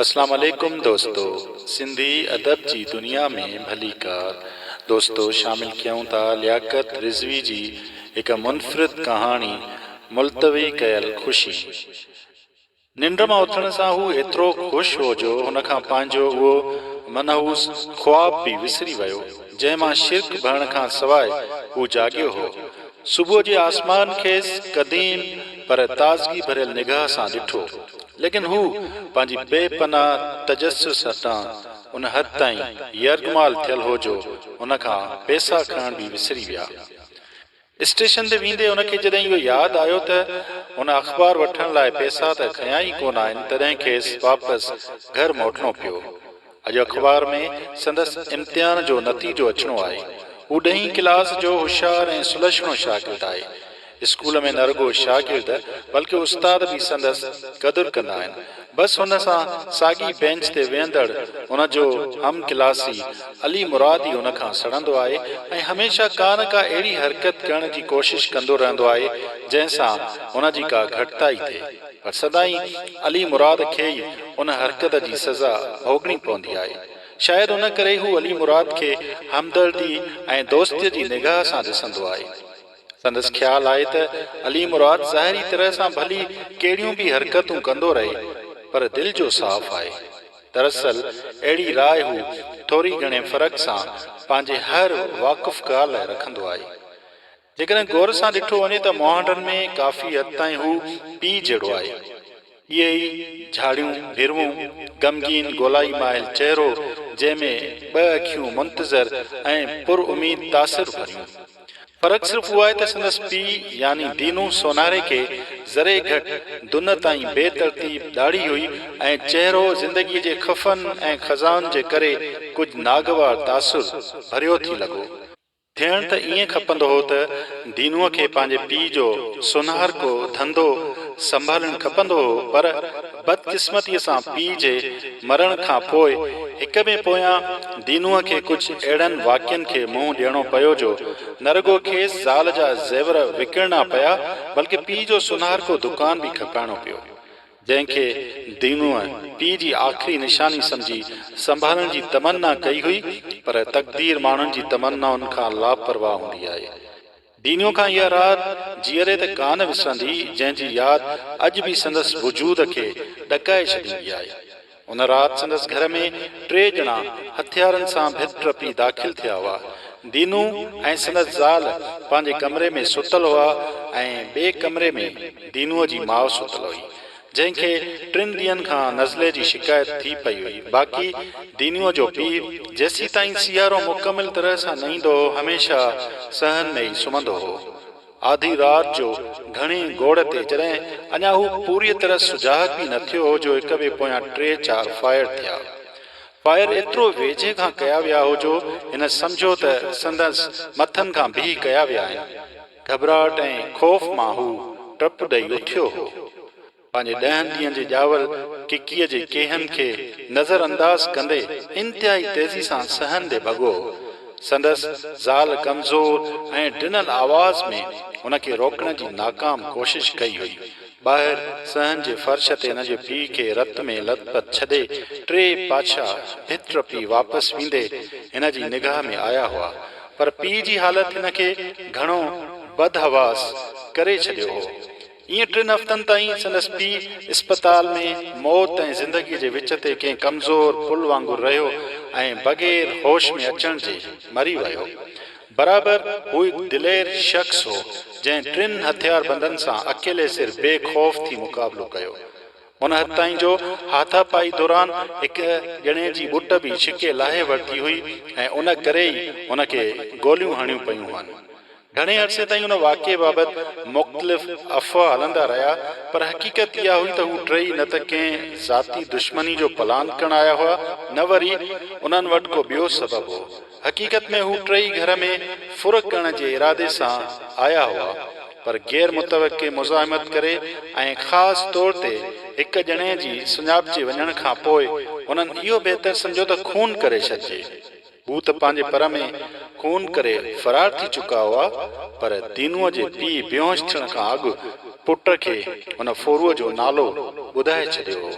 اسلام عليڪم دوستو سنڌي ادب جي دنيا ۾ ڀليڪار دوستو شامل ڪيون ٿا لياقت رضوي جي هڪ منفرد ڪهاڻي ملتوي ڪيل خوشي ننڊ مان اٿڻ سان هو ايترو خوش هو جو هن کان پنهنجو اهو منحوس خواب به وسري ويو جنهن مان شرڪ ڀرڻ کان سواء هو جاڳيو هو صبح جي آسمان کيس قديم پر تازگي ڀريل نگاهه سان ڏٺو ليڪن هو پنهنجي بي پناهه تجسس هٿان ان حد تائين يرغمال ٿيل هو جو هن کان پيسا کڻڻ به وسري ويا. اسٽيشن تي ويندي هن کي جڏهن اهو ياد آيو ته هن اخبار وٺڻ لاء پيسا ته کنيا ئي ڪونه آهن تڏهن کيس واپس گهر موٽڻو پيو. اڄ اخبار ۾ سندس امتحان جو نتيجو اچڻو آهي. هو ڏهين ڪلاس جو هوشيار ۽ سلڇڻو شاگرد آهي. اسڪول ۾ نه رڳو شاگرد بلڪه استاد به سندس قدر ڪندا آهن. بس هن سان ساڳي بينچ تي ويهندڙ هن جو هم ڪلاسي علي مراد ئي هن کان سڙندو آهي ۽ هميشه ڪا نه ڪا اهڙي حرڪت ڪرڻ جي ڪوشش ڪندو رهندو آهي جنهن سان هن جي ڪا گهٽتائي ٿئي. سدائين علي مراد کي ئي ان حرڪت جي سزا ڀوڳڻي پوندي آئي. شايد ان ڪري هو علي مراد کي همدردي ۽ دوستيء جي نگاهه سان ڏسندو آئي. سندس خيال آهي ته علي مراد ظاهري طرح سان ڀلي ڪهڙيون به حرڪتون ڪندو رهي پر دل جو صاف آهي. دراصل اهڙي راء هو ٿوري گهڻي فرق سان پنهنجي هر واقف ڳالهه لاء رکندو آهي. جيڪڏهن غور سان ڏٺو وڃي ته مهانڊن ۾ ڪافي حد تائين هو پيء جهڙو آهي. اهي ئي جهاڙيون ڀروون، غمگين گولائي مائل چهرو جنهن ۾ ٻه اکيون منتظر ۽ پر اميد تاثر ڀريون. فرق صرف اهو آهي ته سندس پيء يعني دينو سونهاري کي ذري گهٽ دنهه تائين بي ترتيب ڏاڙهي هئي ۽ چهرو زندگيء جي خفن ۽ خزائن جي ڪري ڪجهه ناگوار تاثر ڀريو ٿي لڳو. ٿيڻ ته ائين کپندو هو ته دينوء کي پنهنجي پيء جو سونهارڪو ڌنڌو سنڀالڻ کپندو هو، پر بدقسمتيء سان پيء جي مرڻ کان پوء هڪ ٻئي پويان دينوء کي ڪجهه اهڙن واقعن کي منهن ڏيڻو پيو جو نه رڳو کيس زال جا زيور وڪڻڻا پيا بلڪه پيء جو سونهارڪو دڪان به کپائڻو پيو. جنهن کي دينوء پيء جي آخري نشاني سمجهي سنڀالڻ جي تمنا ڪئي هئي، پر تقدير ماڻهن جي تمنائن کان لاپرواهه هوندي آهي. دينوء کان اها رات جيئري ته ڪانه وسرندي، جنهن جي ياد اڄ به سندس وجود کي ڏڪائي ڇڏيندي آهي. ان رات سندس گهر ۾ ٽي ڄڻا هٿيارن سان ڀت ٽپي داخل ٿيا هئا. دينو ۽ سندس زال پنهنجي ڪمري ۾ ستل هئا ۽ ٻئي ڪمري ۾ دينوء جي ماء ستل هئي، جنهن کي ٽن ڏينهن کان نزلي جي شڪايت ٿي پئي هئي، باقي دينوء جو پيء جيسيتائين سيارو مڪمل طرح سان نه ايندو هو، هميشه سهن ۾ ئي سمهندو هو. آڌي رات جو گهڻي گوڙ تي جڏهن اڃا هو پوريء طرح سجاڳ به نه ٿيو هو جو هڪ ٻئي پويان ٽي چار فائر ٿيا. فائر ايترو ويجهي کان ڪيا ويا هو جو هن سمجهيو ته سندس مٿن کان بيهي ڪيا ويا آهن. گهٻراهٽ ۽ خوف مان هو ڊپ ڏئي اٿيو هو. پنهنجي ڏهن ڏينهن جي ڄاول ڪڪيء جي ڪيهن کي نظر انداز ڪندي انتهائي تيزي سان سهندي ڀڳو. سندس زال ڪمزور ۽ ڊنل آواز ۾ هن کي روڪڻ جي ناڪام ڪوشش ڪئي هئي. ٻاهر صحن جي فرش تي هن جي پيء کي رت ۾ لت پت ڇڏي ٽي پاڇا ڀت ٽپي واپس ويندي هن جي نگاهه ۾ آيا هئا. پر پيء جي حالت هن کي گهڻو بدحواس ڪري ڇڏيو هو. ائين ٽن هفتن تائين سندس پيء اسپتال ۾ موت ۽ زندگيء جي وچ تي ڪنهن ڪمزور پل وانگر رهيو ۽ بغير هوش ۾ اچڻ جي مري ويو. برابر هو هڪ دلير شخص هو، جنهن ٽن هٿياربندن سان اڪيلي سر بي خوف ٿي مقابلو ڪيو. ان حد تائين جو هاٿا پائي دوران هڪ ڄڻي جي ٻٽ به ڇڪي لاهي ورتي هئي ۽ ان ڪري ئي هن کي گوليون هڻيون پيون هئن. گهڻي عرصي تائين ان واقعي بابت مختلف افواهه هلندا رهيا، پر حقيقت اها هئي ته هو ٽيئي نه ته ڪنهن ذاتي دشمني جو پلان ڪرڻ آيا هئا، نه وري انهن وٽ ڪو ٻيو سبب هو. حقيقت ۾ هو ٽيئي گهر ۾ ڦرهه ڪرڻ جي ارادي سان آيا هئا، پر غير متوقع مزاحمت ڪري ۽ خاص طور تي هڪ ڄڻي جي سڃاپجي وڃڻ کان پوء هنن اهو بهتر سمجهيو ته خون ڪري ڇڏجي. هو ته پنهنجي پر ۾ خون ڪري فرار ٿي چڪا هئا، پر دينوء جي پيء بيهوش ٿيڻ کان اڳ پٽ کي هن ڦورو جو نالو ٻڌائي ڇڏيو هو،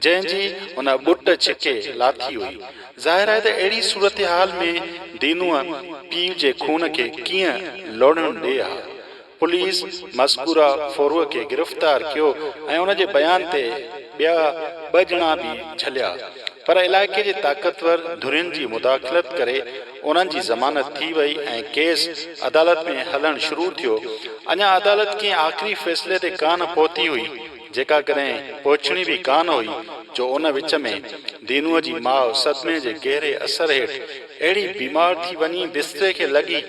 جنهن جي هن ٻٽ ڇڪي لاٿي هئي. ظاهر آهي ته اهڙي صورتحال ۾ دينوء پيء جي خون کي ڪيئن لوڙهڻ ڏي ها. پوليس مذڪوره ڦوروء کي گرفتار ڪيو ۽ ان جي بيان تي ٻيا ٻه ڄڻا به جهليا پر علائقي جي طاقتور ڌرين جي مداخلت ڪري انهن جي ضمانت ٿي وئي ۽ ڪيس عدالت ۾ هلڻ شروع ٿيو اڃا عدالت ڪنهن آخري فيصلي تي ڪانه پهتي هئي جيڪا ڪڏهن پهچڻي به ڪانه هئي جو ان وچ ۾ دينوء جي ماء صدمي جي گهري اثر هيٺ اهڙي بيمار ٿي وڃي بستري کي لڳي،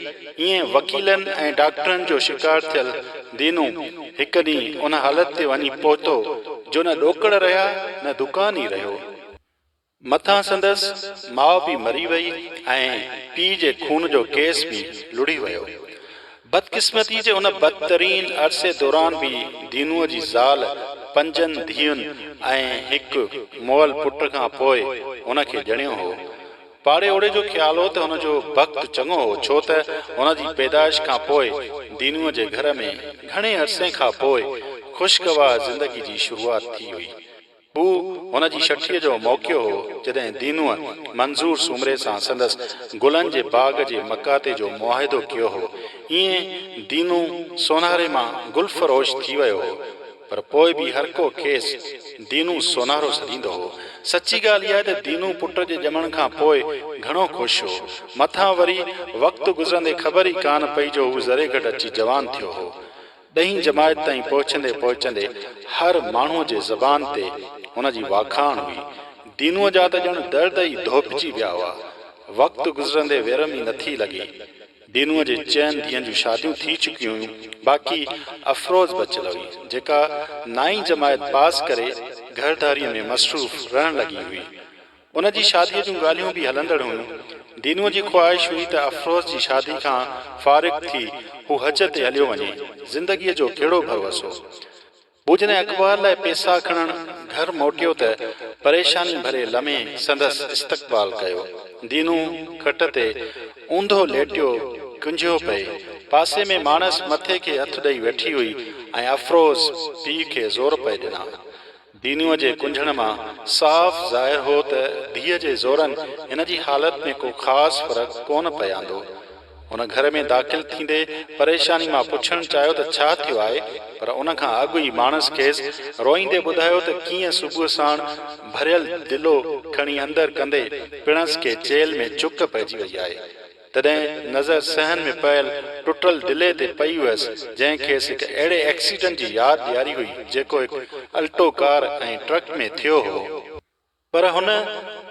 ايئن وڪيلن ۽ ڊاڪٽرن جو شڪار ٿيل دينو هڪ ڏينهن ان حالت تي وڃي پهتو جو نه ڏوڪڙ رهيا نه دڪان ئي رهيو. مٿان سندس ماء به مري وئي ۽ پيء جي خون جو ڪيس به لڙهي ويو. بدقسمتي جي ان بدترين عرصي دوران به دينوء جي زال پنجن ڌيئن ۽ هڪ مئل پٽ کان پوء هن کي ڄڻيو هو. پاڙي اوڙي جو خيال هو ته هن جو بخت چڱو هو ڇو ته هن جي پيدائش کان پوء دينوء جي گهر ۾ گهڻي عرصي کان پوء خوشگوار زندگي جي شروعات ٿي هئي. هو هن جي شٺيء جو موقعو هو جڏهن دينوء منظور سومري سان سندس گلن جي باغ جي مقاطعي جو معاهدو ڪيو هو. ايئن دينو سونهاري مان گل فروش ٿي ويو هو. پر پوء به هر ڪو کيس دينو سونهرو سڏيندو هو. سچي ڳالهه اها ته دينو پٽ جي ڄمڻ کان پوء گهڻو خوش هو. مٿان وري وقت گذرندي خبر ئي ڪانه پئي جو هو ذري گهٽ اچي جوان ٿيو هو. ڏهين جماعت تائين پهچندي پهچندي هر ماڻهوء جي زبان تي هن جي واکاڻ هئي. دينوء جا ته ڄڻ درد ئي ڌوپجي ويا هئا. وقت گذرندي ويرم ئي نٿي لڳي. دينوء جي چئن ڌيئن جون شاديون ٿي چڪيون هيون، باقي افروز بچيل هئي، جيڪا نائين جماعت پاس ڪري گهرڌاريء ۾ مصروف رهڻ لڳي هئي. ان جي شاديء جون ڳالهيون به هلندڙ هيون. دينوء جي خواهش هئي ته افروز جي شادي کان فارغ ٿي هو حج تي هليو وڃي، زندگيء جو ڪهڙو ڀروسو! ٻوجهه نئين اخبار لاء پيسا کڻڻ گهر موٽيو ته پريشاني ڀري لمحي سندس استقبال ڪيو. دينو کٽ تي اونڌو ليٽيو ڪنجهيو پئي. پاسي ۾ ماڻس مٿي کي هٿ ڏئي ويٺي هئي ۽ افروز پيء کي زور پئي ڏنا. دينوء جي ڪنجهڻ مان صاف ظاهر هو ته ڌيء جي زورن هن جي حالت ۾ ڪو خاص فرق ڪونه پئي آندو. هن گهر ۾ داخل ٿيندي پريشاني مان پڇڻ چاهيو ته ڇا ٿيو آهي پر ان کان اڳ ئي ماڻس کيس روئيندي ٻڌايو ته ڪيئن صبح ساڻ ڀريل دلو کڻي اندر ڪندي پڻس کي چيلهه ۾ چڪ پئجي وئي آهي تڏهن نظر صحن ۾ پيل ٽٽل دلي تي پئي هئس جنهن کيس هڪ اهڙي ايڪسيڊنٽ جي ياد ڏياري هئي جيڪو هڪ الٽو ڪار ۽ ٽرڪ ۾ ٿيو هو. پر هن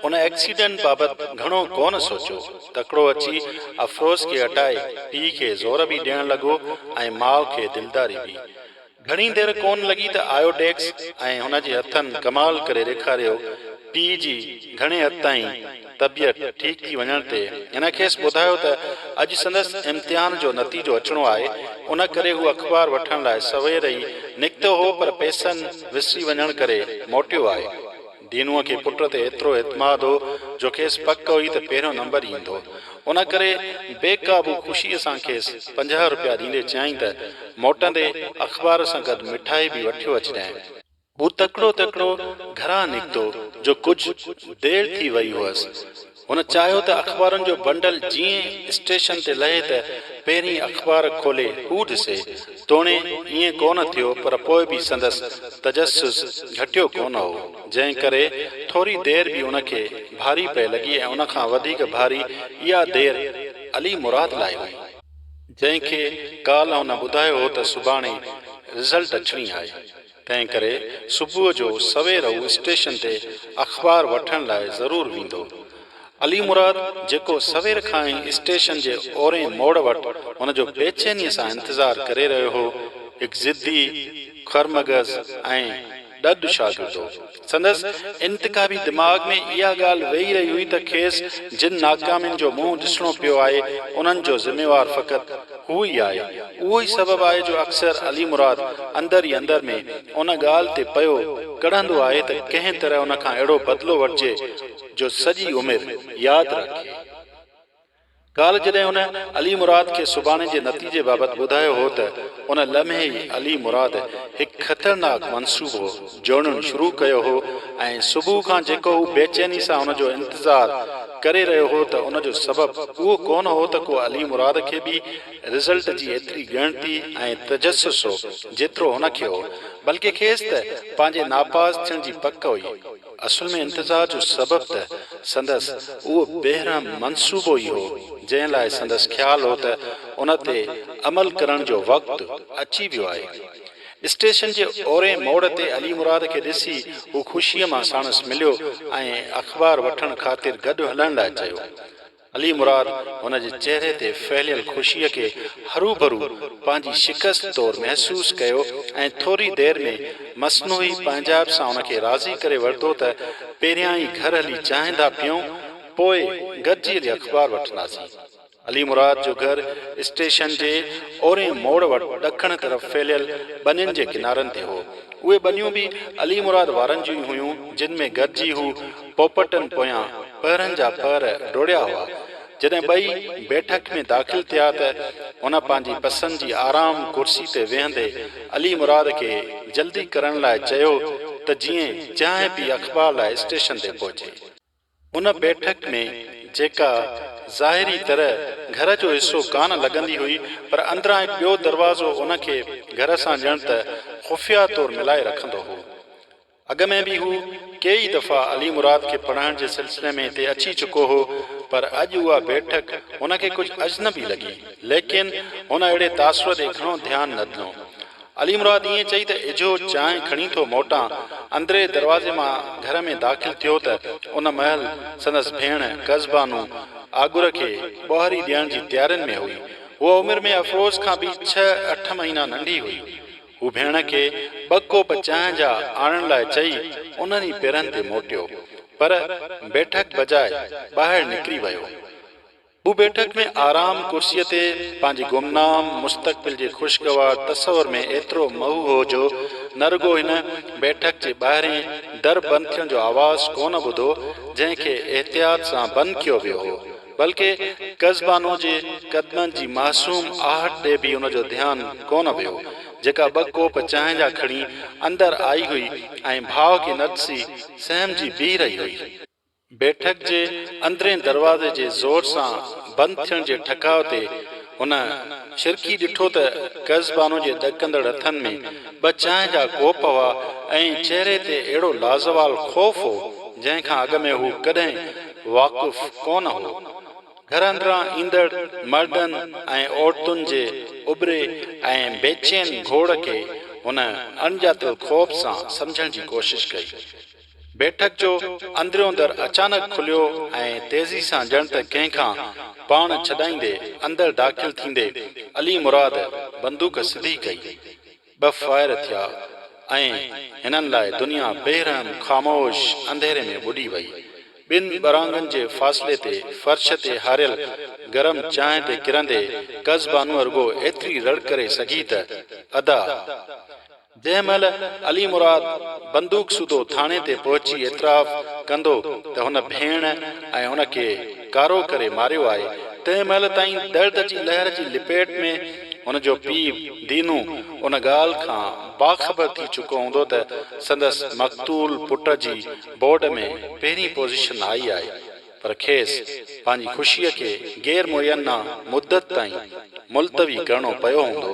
ان ايڪسيڊنٽ بابت گهڻو ڪونه سوچيو، تڪڙو اچي افروز کي هٽائي پيء کي زور به ڏيڻ لڳو ۽ ماء کي دلداري به. گهڻي دير ڪونه لڳي ته آيو ڊيڪس ۽ هن جي هٿن ڪمال ڪري ڏيکاريو، پيء جي گهڻي حد تائين طبيعت ٺيڪ ٿي وڃڻ تي هن کيس ٻڌايو ته اڄ سندس امتحان جو نتيجو اچڻو آهي، ان ڪري هو اخبار وٺڻ لاء سوير ئي نڪتو هو پر پئسن وسري وڃڻ ڪري موٽيو آهي. دينوء کي پٽ تي ايترو اعتماد هو جو کيس پڪ هئي ته پهريون نمبر ايندو، ان ڪري بي قابو خوشيء سان کيس پنجاهه رپيا ڏيندي چيائين ته موٽندي اخبار سان گڏ مٺائي به وٺيو اچجانء. هو تڪڙو تڪڙو گهران نڪتو جو ڪجهه دير ٿي وئي هئس. هن چاهيو ته اخبارن جو بنڊل جيئن اسٽيشن تي لهي ته پهرين اخبار کولي هو ڏسي. توڻي ائين ڪونه ٿيو پر پوء به سندس تجسس گهٽيو ڪونه هو، جنهن ڪري ٿوري دير به ان کي ڀاري پئي لڳي ۽ ان کان وڌيڪ ڀاري اها دير علي مراد لاء هئي، جنهن کي ڪالهه هن ٻڌايو هو ته سڀاڻي رزلٽ اچڻي آهي. تنهن ڪري صبح جو سوير هو اسٽيشن تي اخبار وٺڻ لاء ضرور ويندو. علي مراد جيڪو سوير کان ئي اسٽيشن جي اورئين موڙ وٽ هن جو بيچينيء سان انتظار ڪري رهيو هو، هڪ ضدي، خرمغز ۽ ڏڏ شاگرد هو. سندس انتخابي دماغ ۾ اها ڳالهه ويهي رهي هئي ته کيس جن ناڪامين جو منهن ڏسڻو پيو آهي، انهن جو ذميوار فقط هو ئي آهي. اهو ئي سبب آهي جو اڪثر علي مراد اندر ئي اندر ۾ ان ڳالهه تي پيو ڪڙهندو آهي ته ڪنهن طرح ان کان اهڙو بدلو وٺجي جو سڄي عمر ياد رکي. ڪالهه جڏهن هن علي مراد کي سڀاڻي جي نتيجي بابت ٻڌايو هو ته ان لمحي ئي علي مراد هڪ خطرناڪ منصوبو جوڙڻ شروع ڪيو هو ۽ صبح کان جيڪو هو بيچيني سان ان جو انتظار ڪري رهيو هو ته ان جو سبب اهو ڪونه هو ته ڪو علي مراد کي به رزلٽ جي ايتري ڳڻتي ۽ تجسس هو جيترو هن کي هو بلڪه کيس ته پنهنجي ناپاس ٿيڻ جي پڪ هئي. اصل ۾ انتظار جو سبب ته سندس اهو بيرحم منصوبو ئي هو، جنهن لاء سندس خيال هو ته ان تي عمل ڪرڻ جو وقت اچي ويو آهي. اسٽيشن جي اورئين موڙ تي علي مراد کي ڏسي هو خوشيء مان ساڻس مليو ۽ اخبار وٺڻ خاطر گڏ هلڻ لاء چيو. علي مراد هن جي چهري تي ڦهليل خوشيء کي هروڀرو پنهنجي شڪست طور محسوس ڪيو ۽ ٿوري دير ۾ مصنوعي پنهنجائپ سان ان کي راضي ڪري ورتو ته پهريان ئي گهر هلي چانهه ڌا پيئون پوء گڏجي هلي اخبار وٺنداسين. علي مراد جو گهر اسٽيشن جي اورئين موڙ وٽ ڏکڻ طرف ڦهليل ٻنين جي ڪنارن تي هو. اهي ٻنيون به علي مراد وارن جون ئي هيون جن ۾ گڏجي هو پوپٽن پويان پهرن جا پهر ڊوڙيا هئا. جڏهن ٻئي بيٺڪ ۾ داخل ٿيا ته هن پنهنجي پسند جي آرام ڪرسي تي ويهندي علي مراد کي جلدي ڪرڻ لاء چيو ته جيئن چانهه پي اخبار لاء اسٽيشن تي پهچي. ان بيٺڪ ۾ جيڪا ظاهري طرح گهر جو حصو ڪانه لڳندي هئي پر اندران هڪ ٻيو دروازو ان کي گهر سان ڄڻ ته خفيه طور ملائي رکندو هو. اڳ ۾ به هو ڪيئي ئي دفعا علي مراد کي پڙهائڻ جي سلسلي ۾ هتي اچي چڪو هو، پر اڄ اها بيٺڪ هن کي ڪجهه اجنبي لڳي. ليڪن هن اهڙي تاثر ڏي گهڻو ڌيان نه ڏنو. علي مراد ائين چئي ته اجهو چانهه کڻي ٿو موٽان، اندرئين دروازي مان گهر ۾ داخل ٿيو ته ان مهل سندس ڀيڻ ڪز بانو آڳر کي ٻهري ڏيڻ جي تيارين ۾ هئي. هوء عمر ۾ افروز کان به ڇهه اٺ مهينا ننڍي هئي. هو ڀيڻ کي ٻه ڪوپ چانهه جا آڻڻ لاء چئي انهن ئي پيرن تي موٽيو، پر بيٺڪ بجاء ٻاهر نڪري ويو. هو بيٺڪ ۾ آرام ڪرسيء تي پنهنجي گمنام مستقبل جي خوشگوار تصور ۾ ايترو محو هو جو نه رڳو هن بيٺڪ جي ٻاهرين در بند ٿيڻ جو آواز ڪونه ٻڌو، جنهن کي احتياط سان بند ڪيو ويو هو، بلڪه قزبانو جي قدمن جي معصوم آهٽ ڏي به ان جو ڌيان ڪونه ويو، جيڪا ٻه ڪوپ چانهه جا کڻي اندر آئي هئي ۽ ڀاء کي نه ڏسي سهمجي بيهي رهي هئي. بيٺڪ جي اندرين دروازي جي زور سان بند ٿيڻ جي ٺڪاء تي هن شرڪي ڏٺو ته قزبانو جي ڏڪندڙ هٿن ۾ ٻه چانهه جا ڪوپ هئا ۽ چهري تي اهڙو لازوال خوف هو، جنهن کان اڳ ۾ هو ڪڏهن واقف ڪونه هو. گهر اندران ايندڙ مردن ۽ عورتن جي اٻري ۽ بيچين گهوڙ کي هن اڻڄاتل خوف سان سمجهڻ جي ڪوشش ڪئي. بيٺڪ جو اندريون در اچانڪ کليو ۽ تيزي سان ڄڻ ته ڪنهن کان پاڻ ڇڏائيندي اندر داخل ٿيندي علي مراد بندوق سڌي ڪئي. ٻه فائر ٿيا ۽ هنن لاء دنيا بي رحم خاموش انڌيري ۾ ٻڏي وئي. ٻن ٻرانگن جي فاصلي تي فرش تي هاريل گرم چانهه تي ڪرندي قز بانوء رڳو ايتري رڙ ڪري سگهي ته ادا! جنهن مهل علي مراد بندوق سوڌو ٿاڻي تي پهچي اعتراف ڪندو ته هن ڀيڻ ۽ ان کي ڪارو ڪري ماريو آهي، تنهن مهل تائين درد جي لهر جي لپيٽ ۾، هن جو پيء دينو ان ڳالهه کان باخبر ٿي چڪو هوندو ته سندس مقتول پٽ جي بورڊ ۾ پهرين پوزيشن آئي آهي، پر کيس پنهنجي خوشيء کي غير معينه مدت تائين ملتوي ڪرڻو پيو هوندو.